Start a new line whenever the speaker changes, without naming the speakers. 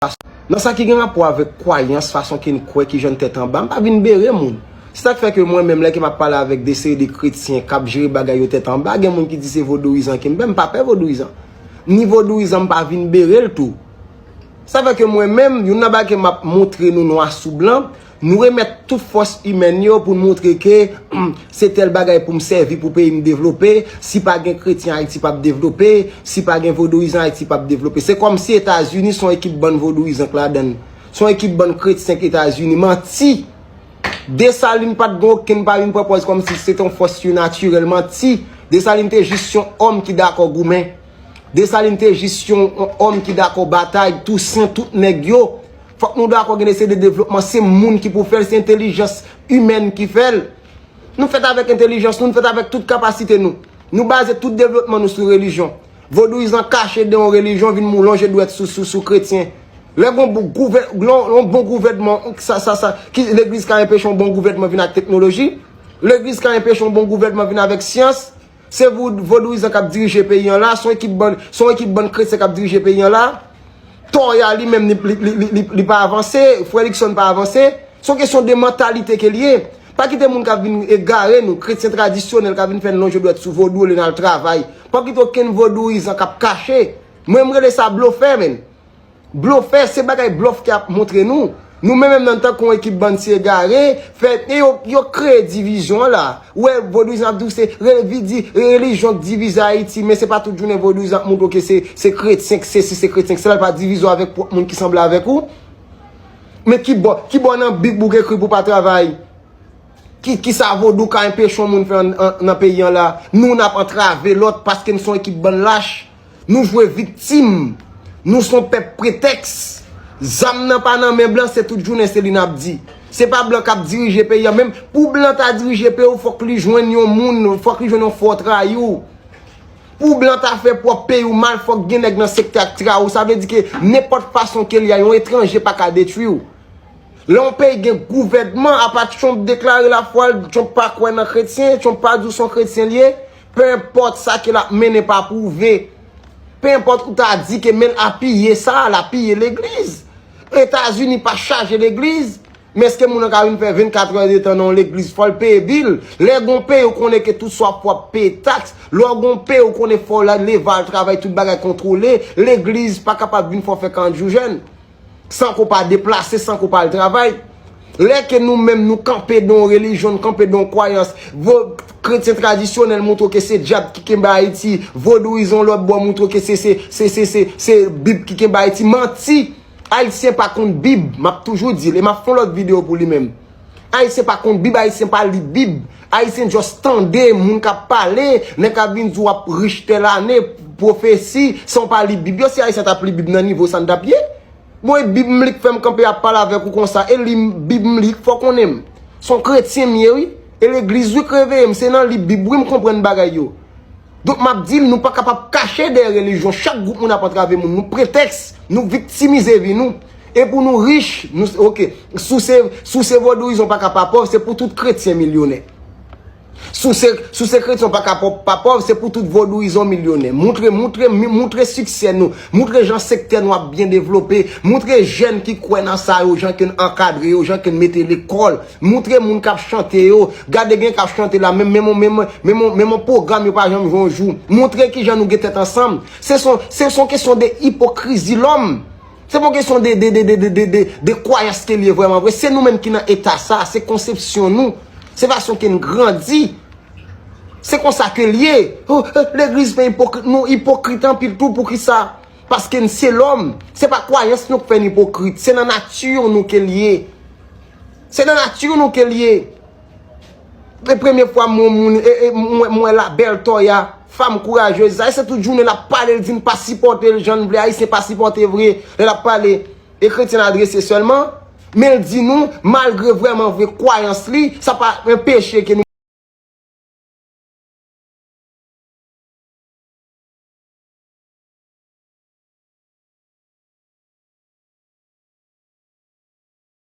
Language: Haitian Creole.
Nan sa ki gen rapò avèk kwayans, fason ke n kwè, ki jan n tèt anba, m pa vin bere moun. Se sa k fè ke mwen menm, lè ke m ap pale avèk de seri de kretyen k ap jere bagay yo tèt anba, gen moun ki di se vodouyizan ke m pè, m pa pè vodouyizan. Ni vodouyizan m pa vin bere l tou. Sa fè ke mwen menm, youn nan bagay ke m ap montre nou nwa sou blan, Nou remèt tout fòs imèn yo pou n moutre ke se tèl bagay pou m sèvi pou peyi m devlope, si pa gen kretyen Ayiti p ap devlope, si pa gen vodouyizan Ayiti p ap devlope. Se kòmsi Etazini son ekip bann vodouyizan k ladan l, son ekip bann kretyen k Etazini. Manti! Desalin pa t gen okenn pa vin pran pòz kòmsi se te yon fòs sinatirèl. Manti! Desalin te jis yon òm ki dakò goumen. Desalin te jis yon òm ki dakò batay. Tousen, tout nèg yo. Fòk nou dakò gen de seri de devlopman se moun ki pou fè l, se entelijans imèn ki fè l. Nou fèt avèk entelijans nou, nou fèt avèk tout kapasite nou. Nou baze tout devlopman nou sou relijyon. Vodouyizan kache de yon relijyon vin mou lonje dwèt sou kretyen. Lè gen yon bon gouvènman, legliz ka enpeche yon bon gouvènman vin ak teknoloji, legliz ka enpeche yon bon gouvènman vin avèk syans. Se vodouyizan kap dirije peyi an la, son ekip bann, son ekip bann kretyen kap dirije peyi an la. Toya li menm li pa avanse, frè Likson pa avanse. Son kesyon de mantalite ke li ye. Pa kite moun kap vin egare nou, kretyen tradisyonèl kap vin fè n lonje dwèt sou vodou olye n al travay. Pa kite okenn vodouyizan kap kache. Mwen m rele sa blofè menn. Blofè se bagay blof ki ap montre nou. Nou menm menm nan tankou yon ekip bann ti egare, fè e yo yo kreye divizyon la. Ou wè vodouyizan ap di w se re vi di relijyon k divize Ayiti men se pa tout jounen vodouyizan ap montre w ke se se kretyen k sesi se kretyen k sela l pa divize w avèk pwòp moun ki sanble avèk ou. Men ki bò ki bò nan bib ou ekri pou pa travay? Ki kisa vodou ka enpeche yon moun fè an nan peyi an la? Nou n ap antrave lòt paske n son ekip bann lach. Nou jwe viktim, nou son pèp pretèks. Zam nan pa nan men blan se tout jounen se li n ap di. Se pa blan k ap dirije peyi an menm. Pou blan ta dirije peyi w fòk li jwenn yon moun, fòk li jwenn yon fo trayou. Pou blan ta fè pwòp peyi w mal fòk gen nèg nan sektè ak trayi w. Sa vle di ke nenpòt fason ke l ye a yon etranje pa ka detwi w. Lè yon peyi gen gouvènman, apa Trump deklare lafwa l, Trump pa kwè nan kretyen, Trump pa di w son kretyen l ye. Pe enpòt sa ke l ap mennen pa pwouve. Pe enpòt ou ta di ke men l ap piye sa, l ap piye legliz. Etazini pa chaje legliz. Men eske moun nan ka vin fè 24 è de tan nan yon legliz fò l peye bil. Lè gen yon peyi ou konnen ke tout sa w ap fè w ap peye taks. Lè w gen yon peyi ou konnen fò w leve al travay tout bagay kontwole. Legliz pa kapab vin fè w fè 40 jou jèn. San ke w pa deplase, san ke w pa al travay. Lè ke nou menm nou kanpe dan yon relijyon, nou kanpe dan yon kwayans, vo kretyen tradisyonèl montre w ke se dyab ki kenbe Ayiti, vodouyizan yon lòt bò montre w ke se, se, se, se, se, se bib ki kenbe Ayiti. Manti! Ayisyen pa konn bib, m ap toujou di l e m ap fè yon lòt videyo pou li menm. Ayisyen pa konn bib, ayisyen pa li bib, ayisyen just tande moun kap pale, nèg kap vin di w wap rich tèl ane, pwofesi, san w pa li bib yo, si ayisyen tap li bib nan nivo sa n tap ye? Bon e bib m li k fè m kanpe ap pale avèk ou konsa, e li m bib m li k fè w konnen m son kretyen m ye wi, e legliz wi k reveye m, se nan li bib wi m konprann bagay yo. Donk map dim nou pa kapab kache dèyè relijyon chak gwoup moun ap antrave moun nou pretèks nou viktimize vi nou e pou nou rich nou ok sou se sou se vodouyizon pa ka pa pòv se pou tout kretyen milyonè sou se sou se kretyon pa ka pòp pa pòv se pou tout vodouyizon milyonè moutre moutre moutre siksè nou moutre jan sektè nou ap byen devlope moutre jèn ki kwè nan sa yo jan ke n ankadre yo jan ke n mete lekòl. Moutre moun kap chante yo. Gade gen kap chante la menm menm menm menm yon pwogram yo pa janm jwe yon jou. Moutre kijan nou gen tèt ansanm. Se son se son kesyon de ipokrizi lòm. Se pon kesyon de de de de de de de kwayans ke li ye vrèman vre. Se nou menm ki nan eta sa. Se konsepsyon nou. Se fason ke n grandi. Se konsa ke li ye. Oh eh legliz fè ipokrit. Nou ipokrit anpil tou poukisa? Paske n se lòm. Se pa kwayans nou k fè n ipokrit. Se nan nati nou ke li ye. Se nan nature nou ke li ye. Se premye fwa m wè moun, m wè la belle Toya, femme courageuse sa. E se tout jounen l ap pale, l di n pa sipòte l jan n vle. Ayisyen pa sipòte vre lè l ap pale. E kretyen l adrese sèlman. Men l di nou, malgre vrèman vre kwayans li, sa pa enpeche ke nou.